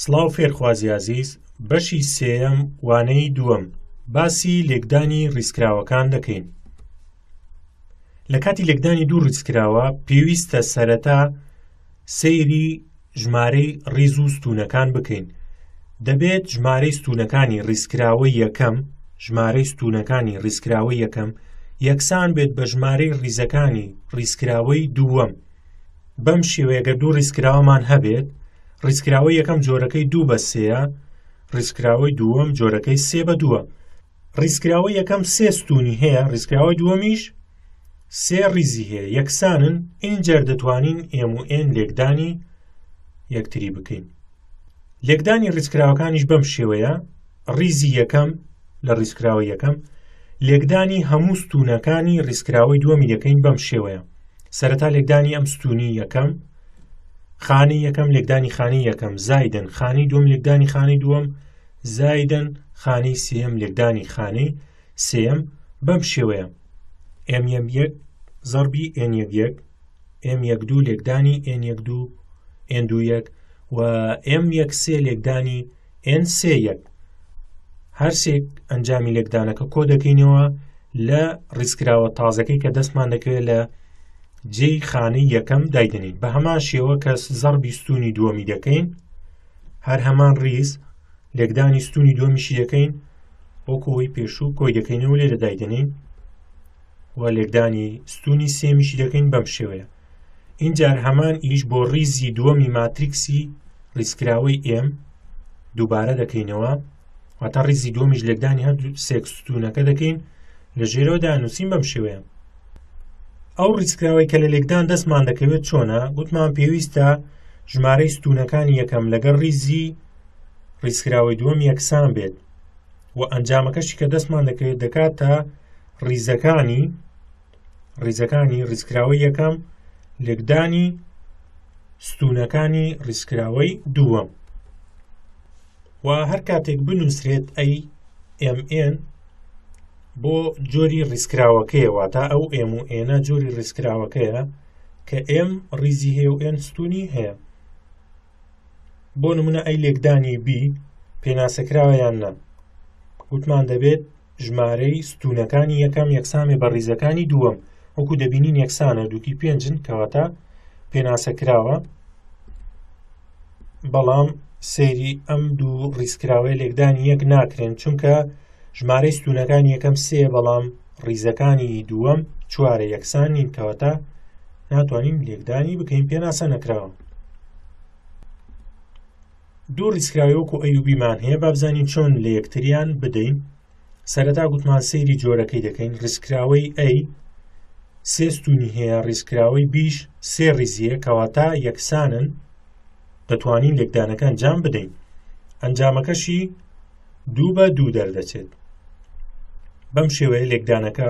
سڵاو فێرخوازی ئازیز بەشی سێیەم وانەی دووەم باسی لێکدانی ڕیزکراوەکان دەکەین لە کاتی لێکدانی دوو ڕیزکراوە پێویستە سەرەتا سەیری ژمارەی ڕیز و ستونەکان بکەین دەبێت ژمارەی ستونەکانی ڕیزکراوە یەکەم ژمارەی ستونەکانی ڕیزکراوە یەکەم یەکسان بێت بە ژمارەی ڕیزەکانی ڕیزکراوەی دووەم بەم شێوەیە گەر دوو ڕیزکراوەمان هەبێت ڕیزکراوەی یەکەم جۆرەکەی دوو بە سێە ڕیزکراوەی دووەم جۆرەکەی سێ بە دووە ڕیزکراوە یەکەم سێ ستونی هەیە ڕیزکراوەی دووەمیش سێ ڕیزی هەیە یەکسانن ئینجەر دەتوانین ئێم و ئێن لێکدانی یەکتری بکەین لێکدانی ڕیزکراوەکانیش بەم شێوەیە ڕیزی یەکەم لە ڕیزکراوە یەکەم لێکدانی هەموو ستونەکانی ڕیزکراوەی دووەمی دەکەین بەم شێوەیە سەرەتا لێکدانی ئەم ستونی یەکەم خانی یەکەم لێکدانی خانی یەکەم زایدن خانی دوم لێکدانی خانی دووەم زایدن خانی سێم لێکدانی خانی سێیەم بەم شێوەیە، ئێم یەک یەک زەڕبی ئێن یەک یەک ئێم یەک دوو لێکدانی ئێن یەک دوو ئێن دوو یەک و ئێم یەک سێ لێکدانی ئێن سێ یەک هەرسێک ئەنجامی لێکدانەکە کۆ دەکەینەوە لە ڕیزکراوە تازەکەی کە دەستمان دەکەوێت لە جێی خانەی یەکەم دایدنین بە هەمان شێوە کە زەڕ بیستونی دووەمی دەکەین هەر هەمان ڕیز لێکدانی ستوونی دووەمیشی دەکەین وەکو ئەوی پێشوو کۆی دەکەینەوە لێرە دایدەنین و لێکدانی ستوونی سێمیشی دەکەین بەم شێوەیە اینجار هەمان ئیش بۆ ڕیزی دووەمی ماتریکسی ڕیسکراوەی ئێم دووبارە دەکەینەوە واتە ڕیزی دووەمیش لێکدانی هەردوو سێکسستونەکە دەکەین لە ژێرەوە دانووسین بەم شێوەیە ئەو ڕیسکراوەی کە لە لێکدان دەستمان دەکەوێت چۆنە گوتمان پێویستە ژمارەی ستونەکانی یەکەم لەگەڵ ڕیزی ڕیزکراوەی دووەم یەکسان بێت و ئەنجامەکەشی کە دەستمان دەکەوێت دەکاتە ڕیزەکانی ڕیزەکانی ڕیزکراوەی یەکەم لێکدانی ستونەکانی ڕیزکراوەی دووەم و هەر کاتێک بنووسرێت ئەی MN بۆ جۆری ڕیسکراوەکەیە واتە ئەو ئێم و ئێنە جۆری ڕیسکراوەکەیە کە ئێم ڕیزی هەیە و ئێن ستونی هەیە بۆ نمونە ئەی لێکدانی بی پێناسەکراوە یان نا وتمان دەبێت ژمارەی ستونەکانی یەکەم یەکسامێ بە ڕیزەکانی دووەم وەکو دەبینین یەکسانە دووکی پێنجن کەواتە پێناسەکراوە بەڵام سەیری ئەم دوو ڕیزکراوەی لێکدانی یەک ناکرێن چونکە ژمارەی ستوونەکان یەکەم سێ بەڵام ڕیزەکانی دووەم چوارە یەکسان نین کەواتە ناتوانین لێکدانی بکەین پێناسە نەکراوە دوو ڕیسکراوی وەکو ئەیوبیمان هەیە بابزانین چۆن لە یەکتریان بدەین سەرەتا گوتمان سەیری جۆرەکەی دەکەین ڕیسکراوەی ئەی سێستونی هەیە ڕیسکراوەی بیش سێ ڕیزیە کەواتە یەکسانن دەتوانین لێکدانەکان جام بدەین ئەنجامەکەشی دوو بە دوو دەردەچێت بەم شێوەیە لێکدانەکە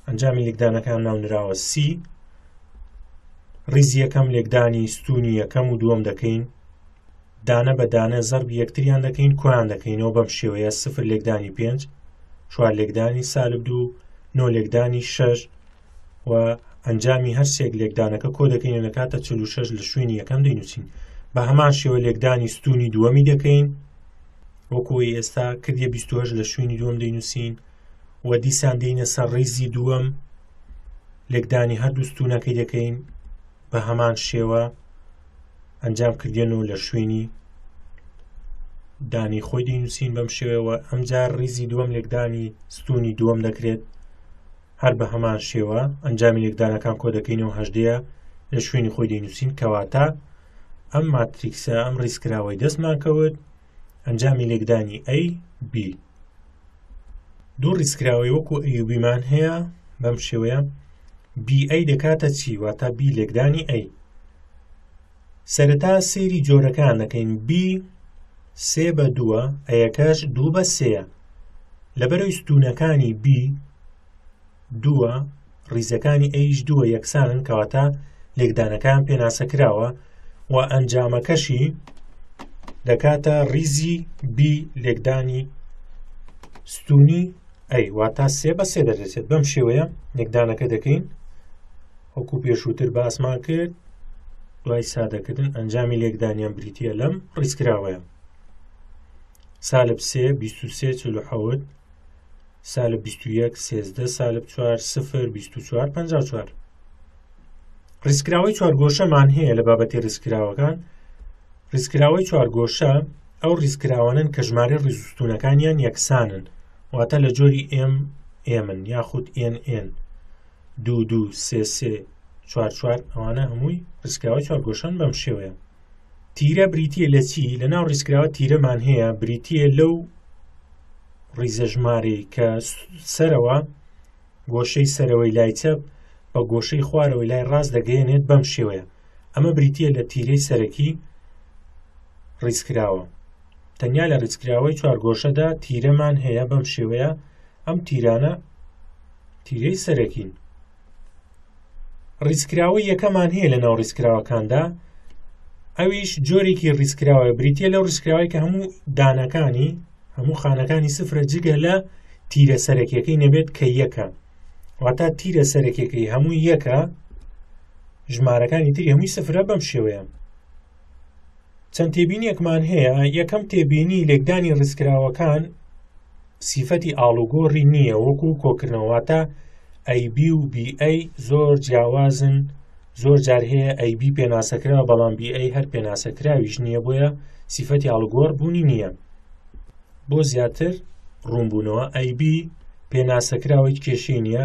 ئەنجامی لێکدانەکان ناونراوە سی ڕیزی یەکەم لێکدانی ستونی یەکەم و دووەم دەکەین دانە بە دانە زەرب یەکتریان دەکەین کۆیان دەکەینەوە بەم شێوەیە سفر لێکدانی پێنج چوار لێکدانی سالب دوو نۆ لێکدانی شەش و ئەنجامی هەر سێک لێکدانەکە کۆ دەکەین لە کاتە 46 لە شوێنی یەکەم دەینوچین بە هەمان شێوە لێکدانی ستونی دووەمی دەکەین وەکوی ئێستا کردە 28 لە شوێنی دووەم دەینوسین و دیسان دێنە سەر ڕیزی دووەم لێکدانی هەردوو ستونەکەی دەکەین بە هەمان شێوە ئەنجام کردێن و لە شوێنی دانی خۆی دەینوسین بەم شێوەوە ئەمجار ریزی دووەم لێکدانی ستونی دووەم دەکرێت هەر بە هەمان شێوە ئەنجامی لێکدانەکان کۆ دەکەینەوە هەژدەیە لە شوێنی خۆی دەینووسین کەواتە ئەم ماتریکسە ئەم ڕیسکراوەی دەستمان کەوت ئەنجامی لێکدانی ئەی بی دوو ڕیسکراوەی وەکو ئەیوبیمان هەیە بەم شێوەیە بی ئەی دەکاتە چی واتە بی لێکدانی ئەی سەرەتا سەیری جۆرەکان دەکەین بی سێ بە دووە ئەیەکەش دوو بە سێە لەبەرەوەی ستونەکانی بی دووە ڕیزەکانی ئەیش دووە یەکسانن کەواتە لێکدانەکان پێناسە کراوە و ئەنجامەکەشی دەکاتە ڕیزی بی لێکدانی ستونی ئەی واتا سێ بە سێ دەدەچێت بەم شێوەیە لێکدانەکە دەکەین وەکو پێشووتر باسمان کرد دوای سادەکردن ئەنجامی لێکدانیان بریتە لەم ڕیزکراوەیە سالب سێ بیست و سێ چل و حەوت سالب بیست و یەک سێزدە سالب چوار سفر بیست و چوار پەنج و چوار ڕیزکراوەی چوارگۆشەمان هەیە لە بابەتی ڕیزکراوەکان ڕیزکراوەی چوارگۆشە ئەو ڕیزکراوانن کە ژمارە ڕیزستونەکانیان یەکسانن واتە لە جۆری ئێم ئێمن یاخود ئێن ئێن دوو دوو سێ سێ چوار چوار ئەوانە هەمووی ڕیسکراوە چوار گۆشەن بەم شێوەیە تیرە بریتە لە چی لە ناو ڕیسکراوە تیرەمان هەیە بریتە لەو ڕیزە ژمارەی کە سەرەوە گۆشەی سەرەوەی لای چەپ بە گۆشەی خوارەوەی لای ڕاست دەگەێنێت بەم شێوەیە ئەمە بریتە لە تیرەی سەرەکی ڕیسکراوە تەنیا لە ڕیسکراوەی چوار گۆشەدا تیرەمان هەیە بەم شێوەیە ئەم تیرانە تیرەی سەرەکین. ڕیزکراوەی یەکەمان هەیە لە ناو ڕیزکراوەکاندا ئەویش جۆرێکی ڕیزکراوە بریتە لەو ڕیزکراوی کە هەموو دانەکانی هەموو خانەکانی سفرە جگە لە تیرە سەرەکیەکەی نەبێت کە یەکە واتە تیرە سەرەکیەکەی هەموو یەکە ژمارەکانی تری هەمووی سفرە بەم شێوەیە چەند تێبینیەکمان هەیە یەکەم تێبینی لێکدانی ڕیسکراوەکان سیفەتی ئاڵوگۆڕی نییە وەکو کۆکردنەوەواتە ئەیB و BA زۆر جیاوازن زۆر جار هەیە ئەیB پێناسەکرا بەڵام BA هەر پێناسەکراویش نییە بۆیە سیفەتی ئاڵگۆڕ بوونی نییە بۆ زیاتر ڕوونبوونەوە ئەیB پێناسەکراوەی کێشەی نییە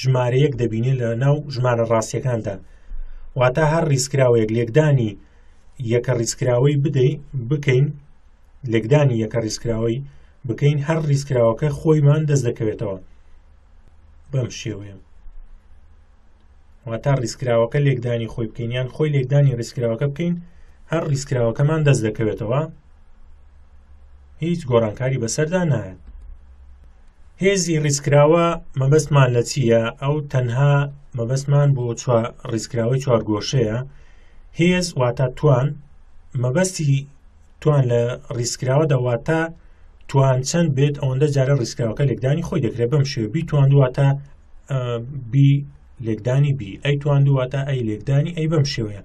ژمارەیەک دەبینێت لە ناو ژمارە ڕاستیەکاندا واتە هەر ڕیزکراوەیەک لێکدانی یەکە ڕیزکراوەی بدەین بکەین لێکدانی یەکە ڕیزکراوەی بکەین هەر ڕیزکراوەکە خۆیمان دەست دەکەوێتەوە بەم شێوەیە واتە ڕیزکراوەکە لێکدانی خۆی بکەین یان خۆی لێکدانی ڕیزکراوەکە بکەین هەر ڕیزکراوەکەمان دەست دەکەوێتەوە هیچ گۆڕانکاری بەسەردا نایەت هێزی ڕیزکراوە مەبەستمان لە چییە ئەو تەنها مەبەستمان بۆ ڕیزکراوەی چوارگۆشەیە هێز واتە توان مەبەستی توان لە ڕیزکراوە دەواتە توان چەند بێت ئەوەندە جارە ڕیزکراوەکە لێکدانی خۆی دەکرێت بەم شێ بی توان دواتە بی لێکدانی بی ئەی توان دواتە ئەی لێکدانی ئەی بەم شێوەیە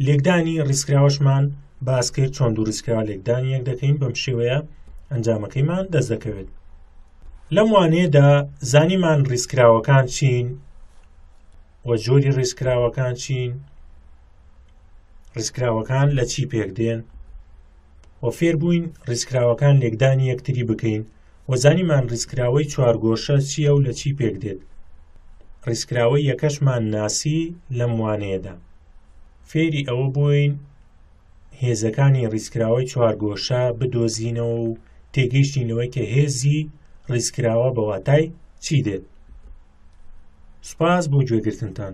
لێکدانی ڕیزکراوەشمان باس کرد چۆن دوو ڕیزکراوە لێکدانی یەک دەکەین بەم شێوەیە ئەنجامەکەیمان دەست دەکەوێت لەم وانەیەدا زانیمان ڕیزکراوەکان چین و جۆری ڕیزکراوەکان چین ڕیزکراوەکان لە چی پێک دێن و فێربووین ڕیزکراوەکان لێکدانی یەکتری بکەین وە زانیمان ڕیزکراوەی چوارگۆشە چییە و لە چی پێک دێت ڕیزکراوەی یەکەشمان ناسی لەم وانەیەدا فێری ئەوە بووین هێزەکانی ڕیزکراوەی چوارگۆشە بدۆزینەوە و تێگەیشتین لەوەی کە هێزی ڕیزکراوە بەواتای چی دێت سوپاس بۆ گوێگرتنتان